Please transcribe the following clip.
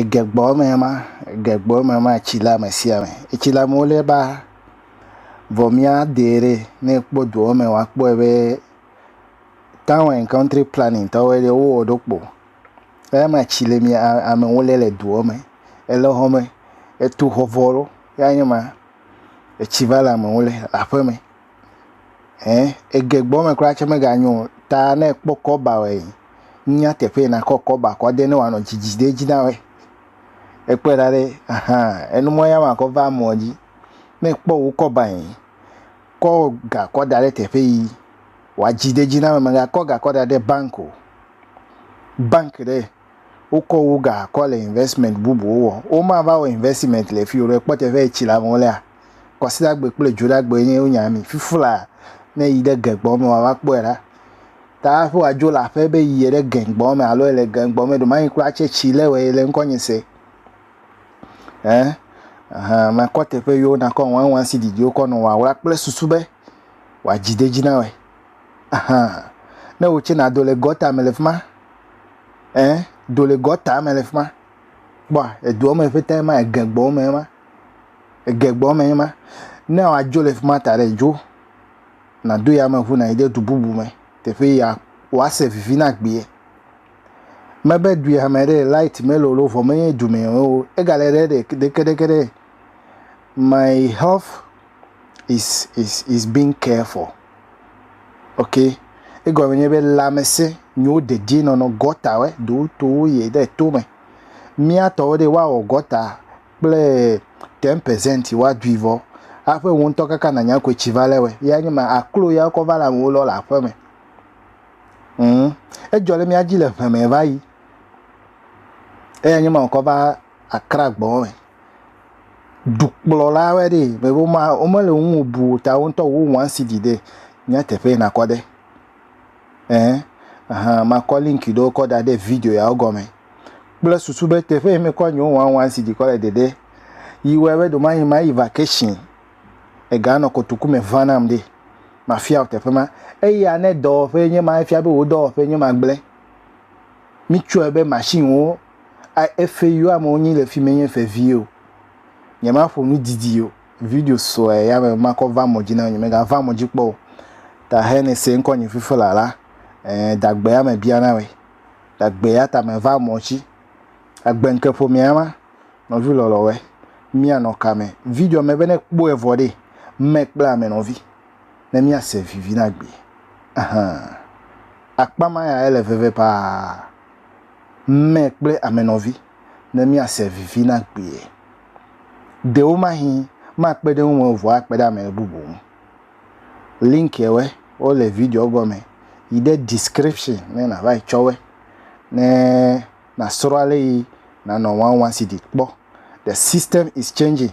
Egbɔ me ma, egbɔ me ma etsi le ame sia ame. Etsi le amewo le ba vɔ mía de ɖɛ. Ne ekpɔ dua me wa kpɔe be tawu and kɔntri plani tɔwoe ɖe wowɔ ɖo kpo. Eya me etsi le mía amewo le le dua me. Ele xɔ me, etu xɔ vɔ ɖo ya nye ma. Etsi va le amewo le aƒeme. ɛɛ ege gbɔ me kura tse mega nyo o ta ne ekpɔ kɔba wɔe nunya teƒe yi nakɔ kɔba kɔ de ne woanɔ dzidzi ɖe edzi na wɔe. Ekpɔe ɖa ɖe ahan enumɔ ya ma kɔ va emɔ dzi. Ne ekpɔ wo kɔba yi kɔ ga kɔ da ɖe teƒe yi wadzi ɖe edzi na wɔe mega kɔ ga kɔ da ɖe bank o. Bank ɖe wokɔ wo ga kɔ le investment bubuwo wɔ woma va wɔ investment le fi o ɖe ekpɔ teƒe yi tsi le amewo lea. Kwasiɖagbe kple dzoɖagbe ye wonya mi. Fifla ne yi ɖe gɛngbɔ me wa woakpɔe ɖa. Ta hafi woadzo le aƒe be yi ɖe gɛngbɔ me alo ele gɛngbɔ me ɖe mayi kura tse tsi le wɔ ye le ŋkɔnye se. Ɛ ehã makɔ teƒe yewo nakɔ wawa si didi wokɔ nɔ wawla kple susu be wòadzi de dzi na wɔe. Ehã ne wotse nado le gɔta me le fi ma. Ɛ do le gɔta me le fi ma. Kpɔa, edua me ƒete ma, ege gbɔ me ma, ege gbɔ me ma. Ne wòadzo le fi ma ta ɖe, dzo nàdo yameŋu nàyi ɖe du bubu me, teƒe ya wòase vivi na agbee. Mebe du ya me ɖe, lait melolo vɔ menye dumɛ o, egale ɖe ɖe ɖekeɖeke ɖe. My health is is is being cared for. Okay? Egɔme nye be lãmesẽ nyiwo dedienɔnɔ gɔtawoe do towo yie ɖe tome. Mía tɔwo ɖe woawɔ gɔta kple ten percent woadui vɔ aƒe wò ŋutɔ kaka nànya koe tsi va lé wɔe. Ya nye ma aklo ya wokɔ va le amewo lɔ le aƒeme. Mm. Edzɔ ɖe mía dzi le ʋeme va yi. Eya nye ma wokɔ va akra gbɔ me. dukplɔla aɖe ɖi yi ke woma, womele wo ŋu bu o ta wo ŋutɔ wo wan CD ɖɛ nye teƒe yi nakɔ ɖe ɛɛ ahan makɔ link ɖewo kɔ da ɖe video yawo gɔme kple susu be teƒe yi mekɔ nye wo wan wan CD kɔ le ɖeɖe yi wɔe be ɖewomayi mayi vacation ega nɔ kotoku me va nam ɖi mafia wò teƒe ma eya ne dɔwɔƒe nye ma efia be wò dɔwɔƒe nye ma gblẽ mitsɔe be machine wo. A Eƒe yo amewo nyi le fi menye ƒe vie o. Nyemaƒo nu didi o. Video sue ya me makɔ va mɔ dzi na nyemega va mɔ dzi kpɔ o. Ta he ne se ŋkɔ nyi fifi la la, e dagbe ya me bia na we. Dagbe ya ta me va mɔ dzi. Agbe ŋke ƒo mea ma, nɔvi lɔlɔ we. Mia nɔ ka me? Video me be ne kpɔ evɔ ɖe, me kple ame nɔvi. Ne mia se vivi na gbe. Ahan. Akpa ma ya ele veve paa. mɛ kple ame nɔvi ne míase vivi na kpuie. Ɖewomahi makpe ɖe wo ŋu o vɔ akpe ɖe ame bubu ŋu. Linkiɛwɛ wo le videoɔ gɔmɛ yi ɖe description ne nava yi tsɔwɛ ne nasrɔ ale yi nanɔ wawansidi kpɔ. The system is changing.